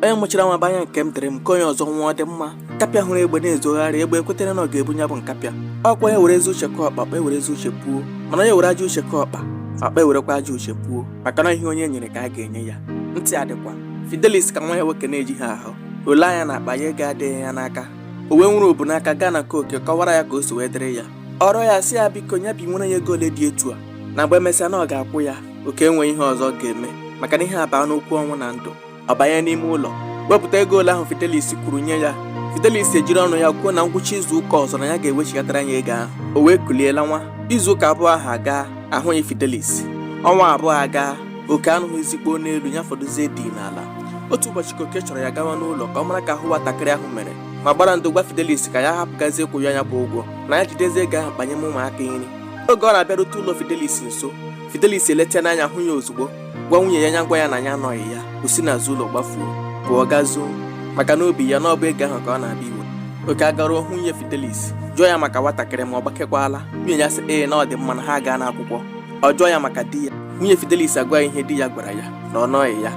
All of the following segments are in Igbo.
onye mụchara nwa banya nke m dịrị m nke onye ọzọ nwa ọ dị mma nkapịa hụrụ egbe na-ezogharị egbe ekwetere na ọ ga-ebu ya bụ nkapịa ọ kwa onye were ezi uche kọọ ọkpa ọkpa ewere ezi uche puo mana onye were ajọ uche kọọ ọkpa ọkpa ewerekwa ajọ uche puo maka na ihe onye nyere ka a ga-enye ya ntị adịkwa fidelis ka nwa ya nwoke na-ejighị ahụ o lee anya n'akpa ya ego adịghị ya n'aka o wee nwere obu n'aka gaa na nke oke kọwara ya ka o si wee dịrị ya ọ rịọ ya sị ya biko ya binwere ya ego ole dị etu a na mgbe emesịa na ọ ga-akwụ ya oke enweghị ihe ọzọ ọ ga-eme maka na ihe abaa n'okwu ọnwụ na ndụ ọ banye n'ime ụlọ wepụta ego ole ahụ Fidelis kwuru nye ya Fidelis ejiri ọnụ ya kwuo na ngwụcha izu ụka ọzọ na ya ga-ewechighatara ya ego ahụ o wee kulie lawa izu ụka abụọ ahụ agaa ahụghị Fidelis ọnwa abụọ agaa oke anụghịzi kpoo n'elu ya fọdụzie dị n'ala otu ụbọchị ka oke chọrọ ya gawa n'ụlọ ka ọ mara ka ahụ nwatakịrị ahụ mere ma gbara ndo gwa Fidelis ka ya hapụkwazie ịkwụ ya ya bụ ụgwọ na ya jidezi ego ahụ kpanye m ụmụaka nri oge ọ na-abịarute ụlọ Fidelis nso Fidelis eleta n'anya hụ ya ozugbo gwa nwunye ya nya gwa ya na ya anọghị ya o si n'azụ ụlọ gbafuo pụọ gaa zoo maka n'obi ya na ọ bụ ego ahụ ka ọ na-abịa iwe oke agaruo hụ nwunye Fidelis jụọ ya maka nwatakịrị ma ọ gbakekwala nwunye ya sị ee na ọ dị mma na ha agaa n'akwụkwọ ọ jụọ ya maka di ya nwunye Fidelis agwa ya ihe di ya gwara ya na ọ nọghị ya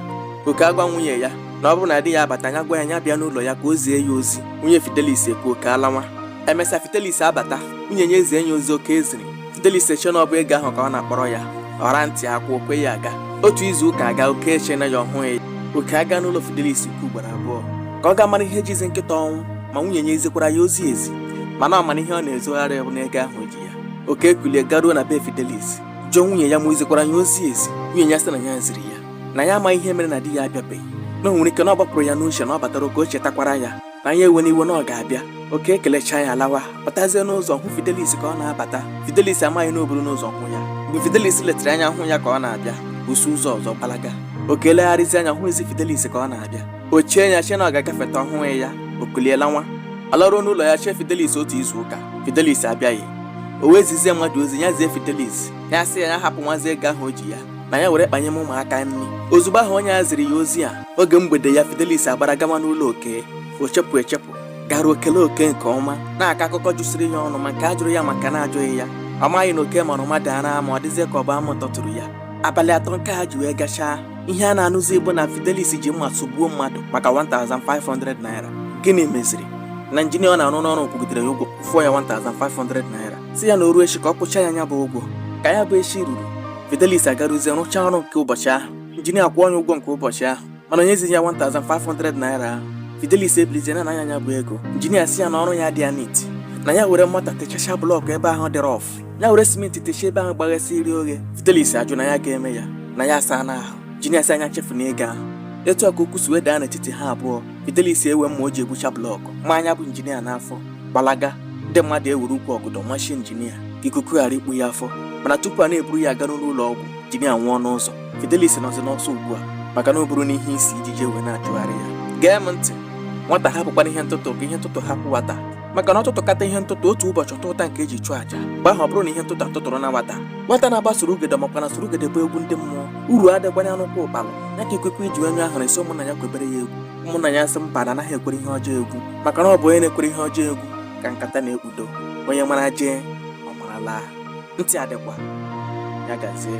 oke agwa nwunye ya na ọ bụrụ na di ya abata ya gwa ya ya bịa n'ụlọ ya ka o zie ya ozi nwunye Fidelis ekwe oke alawa emesịa fidelis abata nwunye ya ezie ya ozi oke ziri fidelis eche na ọ bụ ego ahụ ka ọ na-akpọrọ ya ọra ntị akwụ o kwe ya aga otu izu ụka agaa oke echee ya ọ hụghị ya oke agaa n'ụlọ fidelis nke ugboro abụọ ka ọ gaa mara ihe jizi nkịta ọnwụ ma nwunye ya ezikwara ya ozi ezi mana ọ mara ihe ọ na-ezogharị bụ n'ego ahụ o ji ya oke ekulie garuo na be fidelis jụọ nwunye ya ma i zikwara ya ozi ezi nwunye ya sị na ya ziri ya na ya amaghị ihe mere na di ya abịabeghị na o nwere ike na ọ gbapụrụ ya n'uche na ọ batara ka o chetakwara ya na ya ewena iwe na ọ ga-abịa oke ekelecha ya alawa apụtazie n'ụzọ hụ Fidelis ka ọ na-abata Fidelis amaghị na o buru n'ụzọ hụ ya mgbe Fidelis letara anya hụ ya ka ọ na-abịa o si ụzọ ọzọ gbalaga oke elegharịzi anya ọ hụghịzi Fidelis ka ọ na-abịa o chee ya chee na ọ ga-agafeta ọ hụghị ya o kulie lawa alaruo n'ụlọ ya chee Fidelis otu izu ụka Fidelis abịaghị o wee zizie mmadụ ozi ya zie Fidelis ya sị ya ya hapụwazie ego ahụ o ji ya na ya were kpanye m ụmụaka nri ozugbo ahụ onye a ziri ya ozi a oge mgbede ya Fidelis agbara gawa n'ụlọ oke o chepụ echepụ garuo o kelee oke nke ọma na-akọ akụkọ jụsịrị ya ọnụ ma nke a jụrụ ya ma nke a na-ajụghị ya ọ maghị na oke mara mmadụ ara ma ọ dịzie ka ọ bụ amụ tọtụrụ ya abalị atọ nke ha ji wee gachaa ihe a na-anụzi bụ na Fidelis ji mma sụgbuo mmadụ maka 1500 naira gịnị meziri na injinia ọ na-arụ n'ọrụ kwụgidere ya ụgwọ fọọ ya 1500 naira sị ya na o ruo echi ka ọ kwụchaa ya ya bụ ụgwọ ka ya bụ echi ruru Fidelis agaruzie rụchaa ọrụ nke ụbọchị ahụ injinia kwụọ onye ụgwọ nke ụbọchị ahụ mana o nyezighị ya 1500 naira ahụ Fidelis ebilizie na-ana ya nya bụ ego injinia sị ya na ọrụ ya adịghị neat na ya were mọta techasha blọkụ ebe ahụ dị rough ya were simenti techie ebe ahụ gbaghasịrị oghe Fidelis ajụ na ya ga-eme ya na ya asaana ahụ injinia sị ya nya chefu na ego ahụ etu a ka okwu si wee daa n'etiti ha abụọ Fidelis ewe mma o ji egbucha blọkụ maa nya bụ injinia n'afọ gbalaga ndị mmadụ ewere ukwu ọgọdọ machie injinia ka ikuku ghara ikpu ya afọ mana tupu a na-eburu ya aga n'ụlọ ọgwụ injinia anwụọ n'ụzọ Fidelis nọzi n'ọsọ ugbu a maka na o buruna ihe isi ijiji ewee na-achụgharị ya gee m ntị nwata hapụkwanụ ihe ntụtụ ka ihe ntụtụ hapụ nwata maka na ọ tụtụkata ihe ntụtụ otu ụbọchị ọ tụtụta nke e ji chụọ aja mgbe ahụ ọ bụrụ na ihe ntụtụ atụtụrụna nwata nwata na-agba surugede makwa na surugede bụ egwu ndị mmụọ uru adịkwanụ n'ụkwụ ụkpala ya ka ikwikwi ji nyụọ ahụrụ sị ụmụnna ya kwebere ya egwu ụmụnna ya sị mba na anaghị ekwere ihe ọjọọ egwu maka na ọ bụ onye na-ekwere ihe ọjọọ egwu ka nkata na-ekpudo onye mara jee ọ mara laa ntị adịkwa ya gazie